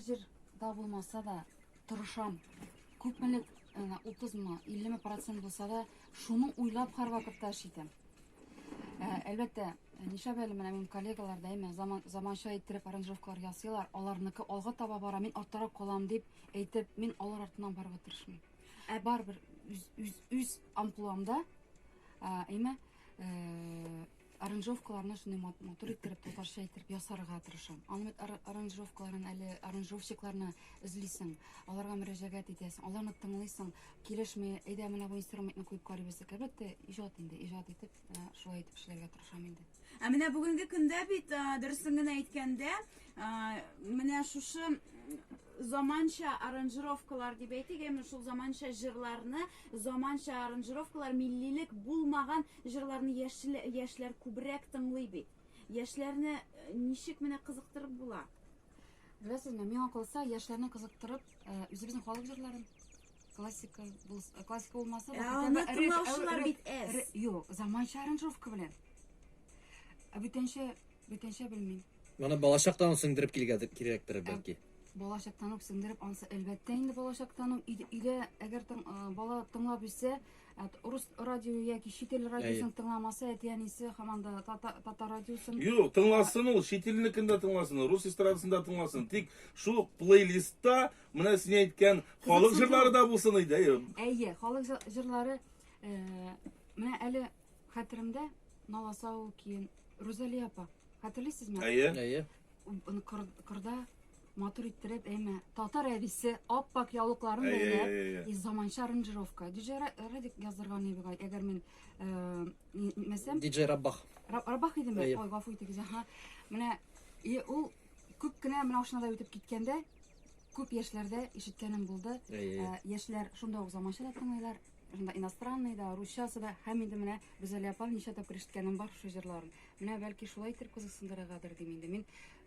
Җырда булмаса да, тырышам. Күпмелек, 30-мы, 50-ме процент булса да, шуны уйлап һәрвакытта эш итәм. Әлбәттә, нишләп әле менә минем коллегалар дәйме заман, заманча иттереп аранжировкалар ясыйлар, аларныкы алга таба бара, мин артта калам дип әйтеп, мин алар артыннан барып тырышмыйм. Ә барыбер үз үз үз амплуамда, әйме, э, Аранжировкаларны шундый матур иттереп, татарча иттереп ясарга тырышам. Аның бит аранжировкаларын әле аранжировщикларны эзлисең, аларга мөрәҗәгать итәсең, аларны тыңлыйсың, килешми, әйдә менә бу инструментны куеп карыйбыз. Әлбәттә, иҗат инде, иҗат итеп, э, шулай итеп эшләргә тырышам инде. Ә менә бүгенге көндә бит э, дөресен генә әйткәндә, э, менә шушы заманча аранжировкалар дип әйтик, әмма шул заманча җырларны, заманча аранжировкалар миллилек булмаган Җырларны яшьлә яшьләр күбрәк тыңлый бит. Яшьләрне ничек менә кызыктырып була? Беләсезме, миңа калса, яшьләрне кызыктырып, үзебезнең халык җырларын классика булс, классика булмаса, Ә хотя аны бы реп- тыңлаучылар реп- бит әз. ре- Юк, заманча аранжировка белән. Ә бүтәнчә, бүтәнчә белмим. Моны балачактан ук сеңдереп килгәдер, кирәктер бәлки. Балачактан ук сеңдереп ансы, әлбәттә инде балачактан ук өйдә, өйдә әгәр тың, а, бала тыңлап үссә, Ә рус радио яки чит ил радиосын тыңламаса, әти-әнисе һаман да татар радиосын. Юк, тыңласын ул, чит илнекендә тыңласын, рус эстрадасында тыңласын. Тик шул плейлистта менә син әйткән халык җырлары да булсын иде. Әйе, халык җырлары э, менә әле хәтеремдә Наласау киен Рузалия апа. Хәтерлисезме? Әйе. Әйе. Кырда Матур иттереп, әйме. Татар әбисе аппак яулыкларын бәйләп, и заманча аранжировка. Диҗе Радик яздырган нибигай, әгәр мин мәсәм... Диҗи Раббах. Раббах идеме? Ой, гафу итегез, аха. Менә, и ул күп кенә менә ошнада үтеп киткәндә, күп яшьләрдә ишеткәнем булды. Яшьләр шунда ук заманча да тыңлыйлар, шунда иностранный да, русчасы да, һәм инде менә Гүзәлия апа ничә тапкыр ишеткәнем бар шул җырларын. Менә бәлки шулай итеп кызыксындырыргадыр дим инде. Мин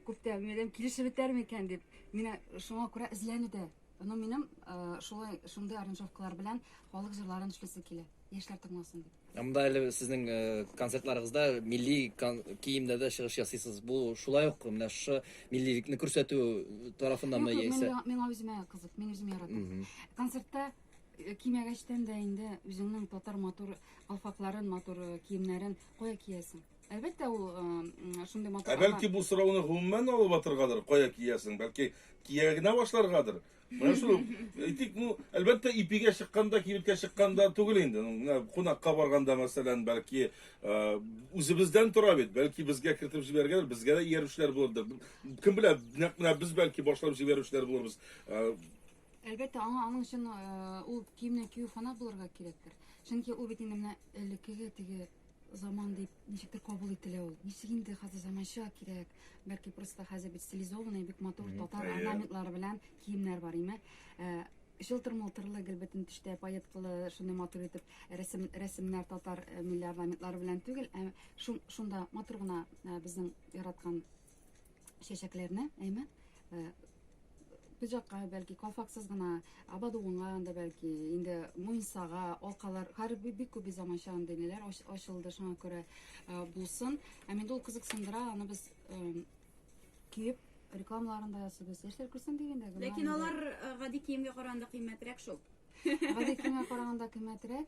Күптән минем килешеп бетәр микән дип, менә шуңа күрә эзләнүдә. Но минем э, шулай шундый аранжировкалар белән халык җырларын эшләсе килә. Яшьләр тыңласын дип. Ә Монда әле сезнең э, концертларыгызда милли кон- киемдә дә чыгыш ясыйсыз. Бу шулай ук менә шушы миллилекне күрсәтү тарафыннанмы Юк, юк, яисә? миңа, миңа үземә кызык, мин үзем яратам. Мгм. Концертта э, кимәгәчтән дә инде үзеңнең татар матур калфакларын, матур э, киемнәрен кая киясең? Әлбәттә, ул э, шундый матур. Ә бәлки бу сорауны гомумән алып атыргадыр, кая киясең? Бәлки кия генә башларгадыр. Менә шул. Әйтик, ну, әлбәттә, ипигә чыкканда, кибеткә чыкканда түгел инде. Ну, менә кунакка барганда, мәсәлән, бәлки э, үзебездән тора бит. Бәлки безгә кертеп җибәргәдер, безгә дә иярүчеләр булырдыр. Кем белә, нәкъ менә без бәлки башлап җибәрүчеләр булырбыз. Э, Әлбәттә, аңа аның өчен э, ул киемне кию фанат булырга кирәктер. Чөнки ул бит инде менә элеккеге теге Заман дип ничектер кабул ителә ул. Ничек инде хәзер заманча кирәк. Бәлки просто хәзер бит стилизованный, бик матур Мгм, татар әйе. орнаментлары белән киемнәр бар, име? Э, Чылтыр-мылтырлы, гел бөтен төштә паеткалы, шундый матур итеп рәсем, рәсемнәр татар э, милли орнаментлары белән түгел, ә шун, шунда матур гына э, безнең яраткан чәчәкләрне, әйме, пиджакка, бәлки, калфаксыз гына, абадуынга анда, бәлки, инде муенсага, алкалар, хәзер бик күп заманча андый ниләр ачылды, шуңа күрә булсын. Ә инде ул кызыксындыра, аны без киеп рекламаларын да ясыйбыз. Яшьләр күрсен дигәндә генә. Ләкин алар гади киемгә караганда кыйммәтрәк шул. Гади киемгә караганда кыйммәтрәк.